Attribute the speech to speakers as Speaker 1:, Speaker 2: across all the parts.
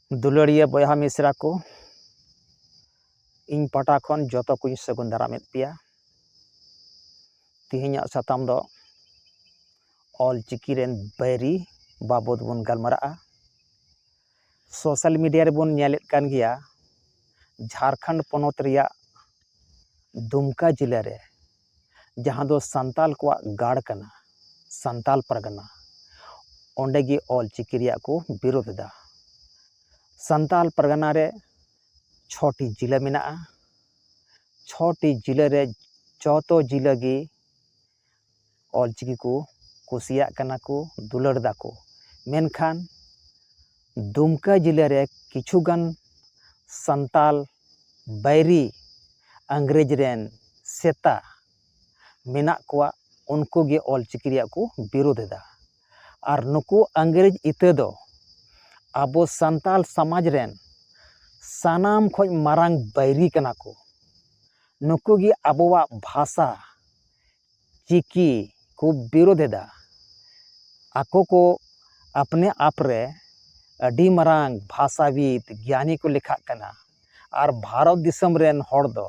Speaker 1: ᱫᱩᱞᱟᱹᱲᱤᱭᱟᱹ ᱵᱚᱭᱦᱟ ᱢᱤᱥᱨᱟ ᱠᱚ ᱤᱧ ᱯᱟᱦᱴᱟ ᱠᱷᱚᱱ ᱡᱚᱛᱚ ᱠᱚᱧ ᱥᱟᱹᱜᱩᱱ ᱫᱟᱨᱟᱢᱮᱫ ᱯᱮᱭᱟ ᱛᱮᱦᱮᱧᱟᱜ ᱥᱟᱛᱟᱢ ᱫᱚ ᱚᱞ ᱪᱤᱠᱤ ᱨᱮᱱ ᱵᱟᱹᱭᱨᱤ ᱵᱟᱵᱚᱫ ᱵᱚᱱ ᱜᱟᱞᱢᱟᱨᱟᱜᱼᱟ ᱥᱳᱥᱟᱞ ᱢᱤᱰᱤᱭᱟ ᱨᱮᱵᱚᱱ ᱧᱮᱞᱮᱫ ᱠᱟᱱ ᱜᱮᱭᱟ ᱡᱷᱟᱲᱠᱷᱚᱸᱰ ᱯᱚᱱᱚᱛ ᱨᱮᱭᱟᱜ ᱫᱩᱢᱠᱟ ᱡᱮᱞᱟ ᱨᱮ ᱡᱟᱦᱟᱸ ᱫᱚ ᱥᱟᱱᱛᱟᱞ ᱠᱚᱣᱟᱜ ᱜᱟᱲ ᱠᱟᱱᱟ ᱥᱟᱱᱛᱟᱞ ᱯᱟᱨᱜᱟᱱᱟ ᱚᱸᱰᱮ ᱜᱮ ᱚᱞ ᱪᱤᱠᱤ ᱨᱮᱭᱟᱜ ᱠᱚ ᱵᱤᱨᱳᱫ ᱮᱫᱟ ᱥᱟᱱᱛᱟᱞ ᱯᱟᱨᱜᱟᱱᱟ ᱨᱮ ᱪᱷᱚᱴᱤ ᱡᱮᱞᱟ ᱢᱮᱱᱟᱜᱼᱟ ᱪᱷᱚᱴᱤ ᱡᱮᱞᱟ ᱨᱮ ᱡᱚᱛᱚ ᱡᱮᱞᱟ ᱜᱮ ᱚᱞᱪᱤᱠᱤ ᱠᱚ ᱠᱩᱥᱤᱭᱟᱜ ᱠᱟᱱᱟ ᱠᱚ ᱫᱩᱞᱟᱹᱲ ᱮᱫᱟ ᱠᱚ ᱢᱮᱱᱠᱷᱟᱱ ᱫᱩᱢᱠᱟᱹ ᱡᱮᱞᱟ ᱨᱮ ᱠᱤᱪᱷᱩ ᱜᱟᱱ ᱥᱟᱱᱛᱟᱲ ᱵᱟᱹᱭᱨᱤ ᱤᱝᱨᱮᱡᱽ ᱨᱮᱱ ᱥᱮᱛᱟ ᱢᱮᱱᱟᱜ ᱠᱚᱣᱟ ᱩᱱᱠᱩ ᱜᱮ ᱚᱞᱪᱤᱠᱤ ᱨᱮᱭᱟᱜ ᱠᱚ ᱵᱤᱨᱳᱫᱷ ᱮᱫᱟ ᱟᱨ ᱱᱩᱠᱩ ᱤᱝᱨᱮᱡᱽ ᱤᱛᱟᱹ ᱫᱚ ᱟᱵᱚ ᱥᱟᱱᱛᱟᱲ ᱥᱚᱢᱟᱡᱽ ᱨᱮᱱ ᱥᱟᱱᱟᱢ ᱠᱷᱚᱱ ᱢᱟᱨᱟᱝ ᱵᱟᱹᱭᱨᱤ ᱠᱟᱱᱟ ᱠᱚ ᱱᱩᱠᱩ ᱜᱮ ᱟᱵᱚᱣᱟᱜ ᱵᱷᱟᱥᱟ ᱪᱤᱠᱤ ᱠᱚ ᱵᱤᱨᱳᱫᱷ ᱮᱫᱟ ᱟᱠᱚ ᱠᱚ ᱟᱯᱱᱮ ᱟᱯ ᱨᱮ ᱟᱹᱰᱤ ᱢᱟᱨᱟᱝ ᱵᱷᱟᱥᱟᱵᱤᱫ ᱜᱮᱭᱟᱱᱤ ᱠᱚ ᱞᱮᱠᱷᱟᱜ ᱠᱟᱱᱟ ᱟᱨ ᱵᱷᱟᱨᱚᱛ ᱫᱤᱥᱚᱢ ᱨᱮᱱ ᱦᱚᱲ ᱫᱚ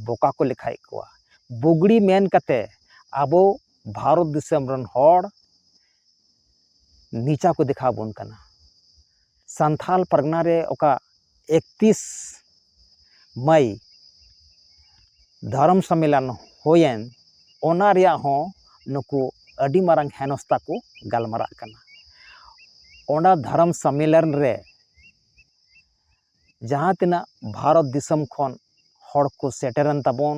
Speaker 1: ᱵᱚᱠᱟ ᱠᱚ ᱞᱮᱠᱷᱟᱭᱮᱫ ᱠᱚᱣᱟ ᱵᱩᱜᱽᱲᱤ ᱢᱮᱱ ᱠᱟᱛᱮ ᱟᱵᱚ ᱵᱷᱟᱨᱚᱛ ᱫᱤᱥᱚᱢ ᱨᱮᱱ ᱦᱚᱲ ᱱᱤᱪᱟ ᱠᱚ ᱫᱮᱠᱷᱟᱣ ᱵᱚᱱ ᱠᱟᱱᱟ ᱥᱟᱱᱛᱷᱟᱞ ᱯᱟᱨᱜᱟᱱᱟ ᱨᱮ ᱚᱠᱟ ᱮᱠᱛᱤᱥ ᱢᱟᱹᱭ ᱫᱷᱚᱨᱚᱢ ᱥᱚᱢᱢᱮᱞᱚᱱ ᱦᱩᱭᱮᱱ ᱚᱱᱟ ᱨᱮᱭᱟᱜ ᱦᱚᱸ ᱱᱩᱠᱩ ᱟᱹᱰᱤ ᱢᱟᱨᱟᱝ ᱦᱮᱱᱚᱥᱛᱟ ᱠᱚ ᱜᱟᱞᱢᱟᱨᱟᱜ ᱠᱟᱱᱟ ᱚᱱᱟ ᱫᱷᱚᱨᱚᱢ ᱥᱚᱢᱢᱮᱞᱚᱱ ᱨᱮ ᱡᱟᱦᱟᱸ ᱛᱤᱱᱟᱹᱜ ᱵᱷᱟᱨᱚᱛ ᱫᱤᱥᱚᱢ ᱠᱷᱚᱱ ᱦᱚᱲ ᱠᱚ ᱥᱮᱴᱮᱨᱮᱱ ᱛᱟᱵᱚᱱ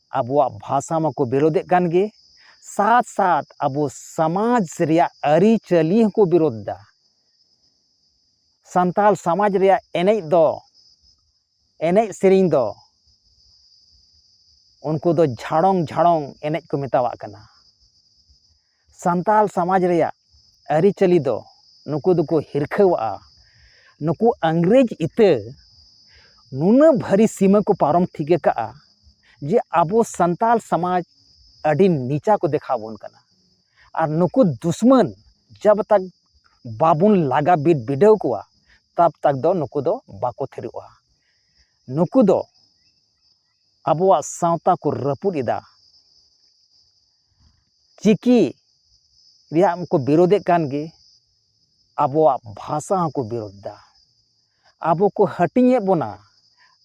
Speaker 1: ᱟᱵᱚᱣᱟᱜ ᱵᱷᱟᱥᱟ ᱢᱟᱠᱚ ᱵᱤᱨᱳᱫᱮᱫ ᱠᱟᱱ ᱜᱮ ᱥᱟᱛ ᱥᱟᱛ ᱟᱵᱚ ᱥᱚᱢᱟᱡᱽ ᱨᱮᱭᱟᱜ ᱟᱹᱨᱤᱪᱟᱹᱞᱤ ᱦᱚᱸᱠᱚ ᱵᱤᱨᱳᱫ ᱫᱟ ᱥᱟᱱᱛᱟᱲ ᱥᱚᱢᱟᱡᱽ ᱨᱮᱭᱟᱜ ᱮᱱᱮᱡ ᱫᱚ ᱮᱱᱮᱡ ᱥᱮᱨᱮᱧ ᱫᱚ ᱩᱱᱠᱩ ᱫᱚ ᱡᱷᱟᱲᱚᱝ ᱡᱷᱟᱲᱚᱝ ᱮᱱᱮᱡ ᱠᱚ ᱢᱮᱛᱟᱣᱟᱜ ᱠᱟᱱᱟ ᱥᱟᱱᱛᱟᱲ ᱥᱚᱢᱟᱡᱽ ᱨᱮᱭᱟᱜ ᱟᱹᱨᱤᱪᱟᱹᱞᱤ ᱫᱚ ᱱᱩᱠᱩ ᱫᱚᱠᱚ ᱦᱤᱨᱠᱷᱟᱹᱣᱟᱜᱼᱟ ᱱᱩᱠᱩ ᱤᱝᱨᱮᱡᱽ ᱤᱛᱟᱹ ᱱᱩᱱᱟᱹᱜ ᱵᱷᱟᱹᱨᱤ ᱥᱤᱢᱟᱹ ᱠᱚ ᱯᱟᱨᱚᱢ ᱴᱷᱤᱠ ᱟᱠᱟᱫᱼᱟ ᱡᱮ ᱟᱵᱚ ᱥᱟᱱᱛᱟᱲ ᱥᱚᱢᱟᱡᱽ ᱟᱹᱰᱤ ᱱᱤᱪᱟ ᱠᱚ ᱫᱮᱠᱷᱟᱣ ᱵᱚᱱ ᱠᱟᱱᱟ ᱟᱨ ᱱᱩᱠᱩ ᱫᱩᱥᱢᱟᱹᱱ ᱡᱟᱵᱽ ᱛᱟᱠ ᱵᱟᱵᱚᱱ ᱞᱟᱜᱟ ᱵᱤᱫ ᱵᱤᱰᱟᱹᱣ ᱠᱚᱣᱟ ᱛᱟᱵᱽ ᱛᱟᱠ ᱫᱚ ᱱᱩᱠᱩ ᱫᱚ ᱵᱟᱠᱚ ᱛᱷᱤᱨᱚᱜᱼᱟ ᱱᱩᱠᱩ ᱫᱚ ᱟᱵᱚᱣᱟᱜ ᱥᱟᱶᱛᱟ ᱠᱚ ᱨᱟᱹᱯᱩᱫ ᱮᱫᱟ ᱪᱤᱠᱤ ᱨᱮᱭᱟᱜ ᱢᱟᱠᱚ ᱵᱤᱨᱳᱫᱮᱫ ᱠᱟᱱ ᱜᱮ ᱟᱵᱚᱣᱟᱜ ᱵᱷᱟᱥᱟ ᱦᱚᱸᱠᱚ ᱵᱤᱨᱳᱫ ᱮᱫᱟ ᱟᱵᱚ ᱠᱚ ᱦᱟᱹᱴᱤᱧᱮᱫ ᱵᱚᱱᱟ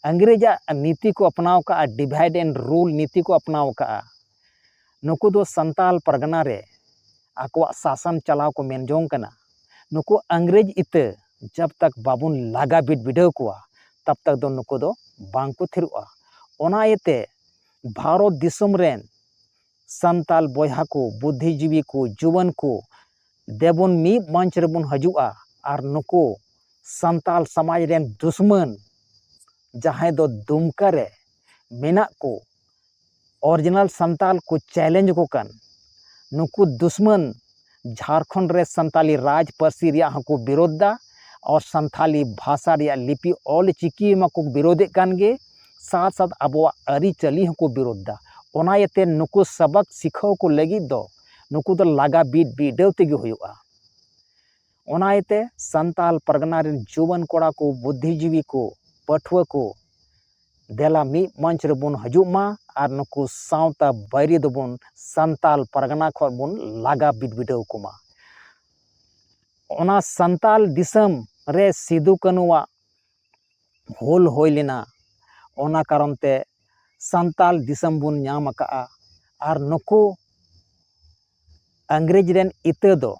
Speaker 1: ᱤᱝᱨᱮᱡᱟᱜ ᱱᱤᱛᱤ ᱠᱚ ᱟᱯᱱᱟᱣ ᱠᱟᱜᱼᱟ ᱰᱤᱵᱷᱟᱭᱤᱰ ᱮᱱᱰ ᱨᱩᱞ ᱱᱤᱛᱤ ᱠᱚ ᱟᱯᱱᱟᱣ ᱠᱟᱜᱼᱟ ᱱᱩᱠᱩ ᱫᱚ ᱥᱟᱱᱛᱟᱞ ᱯᱟᱨᱜᱟᱱᱟ ᱨᱮ ᱟᱠᱚᱣᱟᱜ ᱥᱟᱥᱚᱱ ᱪᱟᱞᱟᱣ ᱠᱚ ᱢᱮᱱ ᱡᱚᱝ ᱠᱟᱱᱟ ᱱᱩᱠᱩ ᱤᱝᱨᱮᱡᱽ ᱤᱛᱟᱹ ᱡᱟᱵ ᱛᱟᱠ ᱵᱟᱵᱚᱱ ᱞᱟᱜᱟ ᱵᱤᱫ ᱵᱤᱰᱟᱹᱣ ᱠᱚᱣᱟ ᱛᱟᱵ ᱛᱟᱠ ᱫᱚ ᱱᱩᱠᱩ ᱫᱚ ᱵᱟᱝ ᱠᱚ ᱛᱷᱤᱨᱚᱜᱼᱟ ᱚᱱᱟ ᱤᱭᱟᱹᱛᱮ ᱵᱷᱟᱨᱚᱛ ᱫᱤᱥᱚᱢ ᱨᱮᱱ ᱥᱟᱱᱛᱟᱞ ᱵᱚᱭᱦᱟ ᱠᱚ ᱵᱩᱫᱽᱫᱷᱤᱡᱤᱵᱤ ᱠᱚ ᱡᱩᱣᱟᱹᱱ ᱠᱚ ᱫᱮᱵᱚᱱ ᱢᱤᱫ ᱢᱚᱧᱪ ᱨᱮᱵᱚᱱ ᱦᱤᱡᱩᱜᱼᱟ ᱟᱨ ᱱᱩᱠᱩ ᱥᱟᱱᱛᱟᱞ ᱥᱚᱢᱟᱡᱽ ᱨᱮᱱ ᱫᱩᱥᱢᱟᱹᱱ ᱡᱟᱦᱟᱸᱭ ᱫᱚ ᱫᱩᱢᱠᱟ ᱨᱮ ᱢᱮᱱᱟᱜ ᱠᱚ ᱚᱨᱤᱡᱤᱱᱟᱞ ᱥᱟᱱᱛᱟᱞ ᱠᱚ ᱪᱮᱞᱮᱧᱡᱽ ᱟᱠᱚ ᱠᱟᱱ ᱱᱩᱠᱩ ᱫᱩᱥᱢᱟᱹᱱ ᱡᱷᱟᱲᱠᱷᱚᱸᱰ ᱨᱮ ᱥᱟᱱᱛᱟᱞᱤ ᱨᱟᱡᱽ ᱯᱟᱹᱨᱥᱤ ᱨᱮᱭᱟᱜ ᱦᱚᱸᱠᱚ ᱵᱤᱨᱳᱫᱷ ᱫᱟ ᱟᱨ ᱥᱟᱱᱛᱟᱞᱤ ᱵᱷᱟᱥᱟ ᱨᱮᱭᱟᱜ ᱞᱤᱯᱤ ᱚᱞ ᱪᱤᱠᱤ ᱢᱟᱠᱚ ᱵᱤᱨᱳᱫᱷᱮᱫ ᱠᱟᱱ ᱜᱮ ᱥᱟᱛ ᱥᱟᱛ ᱟᱵᱚᱣᱟᱜ ᱟᱹᱨᱤᱪᱟᱹᱞᱤ ᱦᱚᱸᱠᱚ ᱵᱤᱨᱳᱫᱷ ᱫᱟ ᱚᱱᱟ ᱤᱭᱟᱹᱛᱮ ᱱᱩᱠᱩ ᱥᱟᱵᱟᱠ ᱥᱤᱠᱷᱟᱹᱣ ᱠᱚ ᱞᱟᱹᱜᱤᱫ ᱫᱚ ᱱᱩᱠᱩ ᱫᱚ ᱞᱟᱜᱟ ᱵᱤᱰ ᱵᱤᱰᱟᱹᱣ ᱛᱮᱜᱮ ᱦᱩᱭᱩᱜᱼᱟ ᱚᱱᱟ ᱤᱭᱟᱹᱛᱮ ᱥᱟᱱᱛᱟᱲ ᱯᱟᱨᱜᱟᱱᱟ ᱨᱮᱱ ᱡᱩᱣᱟᱹᱱ ᱠᱚᱲᱟ ᱠᱚ ᱵᱩᱫᱽᱫᱷᱤ ᱡᱤᱵᱤ ᱠᱚ ᱯᱟᱹᱴᱷᱩᱣᱟᱹ ᱠᱚ ᱫᱮᱞᱟ ᱢᱤᱫ ᱢᱚᱧᱪ ᱨᱮᱵᱚᱱ ᱦᱤᱡᱩᱜ ᱢᱟ ᱟᱨ ᱱᱩᱠᱩ ᱥᱟᱶᱛᱟ ᱵᱟᱹᱭᱨᱤ ᱫᱚᱵᱚᱱ ᱥᱟᱱᱛᱟᱲ ᱯᱟᱨᱜᱟᱱᱟ ᱠᱷᱚᱱ ᱵᱚᱱ ᱞᱟᱜᱟ ᱵᱤᱰᱟᱹᱣ ᱠᱚᱢᱟ ᱚᱱᱟ ᱥᱟᱱᱛᱟᱲ ᱫᱤᱥᱚᱢ ᱨᱮ ᱥᱤᱫᱩ ᱠᱟᱹᱱᱩᱣᱟᱜ ᱦᱩᱞ ᱦᱩᱭ ᱞᱮᱱᱟ ᱚᱱᱟ ᱠᱟᱨᱚᱱ ᱛᱮ ᱥᱟᱱᱛᱟᱲ ᱫᱤᱥᱚᱢ ᱵᱚᱱ ᱧᱟᱢ ᱟᱠᱟᱫᱼᱟ ᱟᱨ ᱱᱩᱠᱩ ᱤᱝᱨᱮᱡᱽ ᱨᱮᱱ ᱤᱛᱟᱹ ᱫᱚ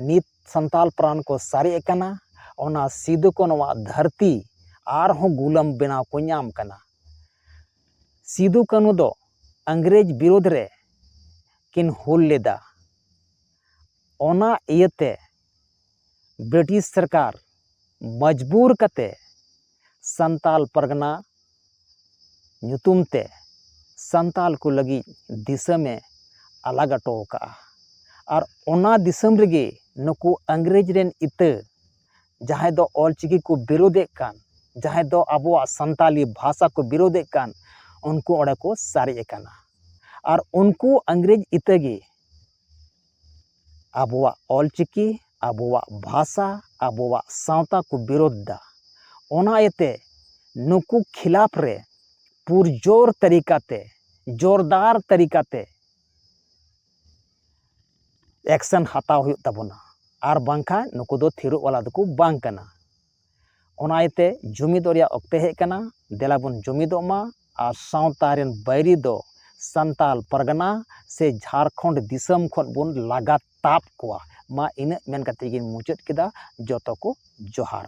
Speaker 1: ᱱᱤᱛ ᱥᱟᱱᱛᱟᱲ ᱯᱨᱟᱱ ᱠᱚ ᱥᱟᱨᱮᱡ ᱟᱠᱟᱱᱟ ᱚᱱᱟ ᱥᱤᱫᱩ ᱠᱟᱹᱱᱩ ᱟᱜ ᱫᱷᱟᱹᱨᱛᱤ ᱟᱨᱦᱚᱸ ᱜᱩᱞᱟᱹᱢ ᱵᱮᱱᱟᱣ ᱠᱚ ᱧᱟᱢ ᱠᱟᱱᱟ ᱥᱤᱫᱩ ᱠᱟᱹᱱᱩ ᱫᱚ ᱤᱝᱨᱮᱡᱽ ᱵᱤᱨᱩᱫᱷ ᱨᱮ ᱠᱤᱱ ᱦᱩᱞ ᱞᱮᱫᱟ ᱚᱱᱟ ᱤᱭᱟᱹᱛᱮ ᱵᱨᱤᱴᱤᱥ ᱥᱚᱨᱠᱟᱨ ᱢᱚᱡᱽᱵᱩᱨ ᱠᱟᱛᱮ ᱥᱟᱱᱛᱟᱞ ᱯᱟᱨᱜᱟᱱᱟ ᱧᱩᱛᱩᱢ ᱛᱮ ᱥᱟᱱᱛᱟᱞ ᱠᱚ ᱞᱟᱹᱜᱤᱫ ᱫᱤᱥᱚᱢᱮ ᱟᱞᱟᱜᱽ ᱦᱚᱴᱚ ᱟᱠᱟᱫᱼᱟ ᱟᱨ ᱚᱱᱟ ᱫᱤᱥᱚᱢ ᱨᱮᱜᱮ ᱱᱩᱠᱩ ᱤᱝᱨᱮᱡᱽ ᱨᱮᱱ ᱤᱛᱟᱹ ᱡᱟᱦᱟᱸᱭ ᱫᱚ ᱚᱞ ᱪᱤᱠᱤ ᱠᱚ ᱵᱤᱨᱳᱫᱮᱫ ᱠᱟᱱ ᱡᱟᱦᱟᱸᱭ ᱫᱚ ᱟᱵᱚᱣᱟᱜ ᱥᱟᱱᱛᱟᱞᱤ ᱵᱷᱟᱥᱟ ᱠᱚ ᱵᱤᱨᱳᱫᱮᱫ ᱠᱟᱱ ᱩᱱᱠᱩ ᱚᱸᱰᱮ ᱠᱚ ᱥᱟᱨᱮᱡ ᱟᱠᱟᱱᱟ ᱟᱨ ᱩᱱᱠᱩ ᱤᱝᱨᱮᱡᱽ ᱤᱛᱟᱹ ᱜᱮ ᱟᱵᱚᱣᱟᱜ ᱚᱞ ᱪᱤᱠᱤ ᱟᱵᱚᱣᱟᱜ ᱵᱷᱟᱥᱟ ᱟᱵᱚᱣᱟᱜ ᱥᱟᱶᱛᱟ ᱠᱚ ᱵᱤᱨᱳᱫᱷ ᱮᱫᱟ ᱚᱱᱟ ᱤᱭᱟᱹᱛᱮ ᱱᱩᱠᱩ ᱠᱷᱤᱞᱟᱯ ᱨᱮ ᱯᱩᱨᱡᱳᱨ ᱛᱟᱹᱨᱤᱠᱟ ᱛᱮ ᱡᱳᱨᱫᱟᱨ ᱛᱟᱹᱨᱤᱠᱟ ᱛᱮ ᱮᱠᱥᱮᱱ ᱦᱟᱛᱟᱣ ᱦᱩᱭᱩᱜ ᱛᱟᱵᱚᱱᱟ ᱟᱨ ᱵᱟᱝᱠᱷᱟᱱ ᱱᱩᱠᱩ ᱫᱚ ᱛᱷᱤᱨᱚᱜ ᱵᱟᱞᱟ ᱫᱚᱠᱚ ᱵᱟᱝ ᱠᱟᱱᱟ ᱚᱱᱟ ᱤᱭᱟᱹᱛᱮ ᱡᱩᱢᱤᱫᱚᱜ ᱨᱮᱭᱟᱜ ᱚᱠᱛᱮ ᱦᱮᱡ ᱟᱠᱟᱱᱟ ᱫᱮᱞᱟ ᱵᱚᱱ ᱡᱩᱢᱤᱫᱚᱜ ᱢᱟ ᱟᱨ ᱥᱟᱶᱛᱟ ᱨᱮᱱ ᱵᱟᱹᱭᱨᱤ ᱫᱚ ᱥᱟᱱᱛᱟᱲ ᱯᱟᱨᱜᱟᱱᱟ ᱥᱮ ᱡᱷᱟᱲᱠᱷᱚᱸᱰ ᱫᱤᱥᱚᱢ ᱠᱷᱚᱱ ᱵᱚᱱ ᱞᱟᱜᱟ ᱛᱟᱵ ᱠᱚᱣᱟ ᱢᱟ ᱤᱱᱟᱹᱜ ᱢᱮᱱ ᱠᱟᱛᱮᱫ ᱜᱤᱧ ᱢᱩᱪᱟᱹᱫ ᱠᱮᱫᱟ ᱡᱚᱛᱚ ᱠᱚ ᱡᱚᱦᱟᱨ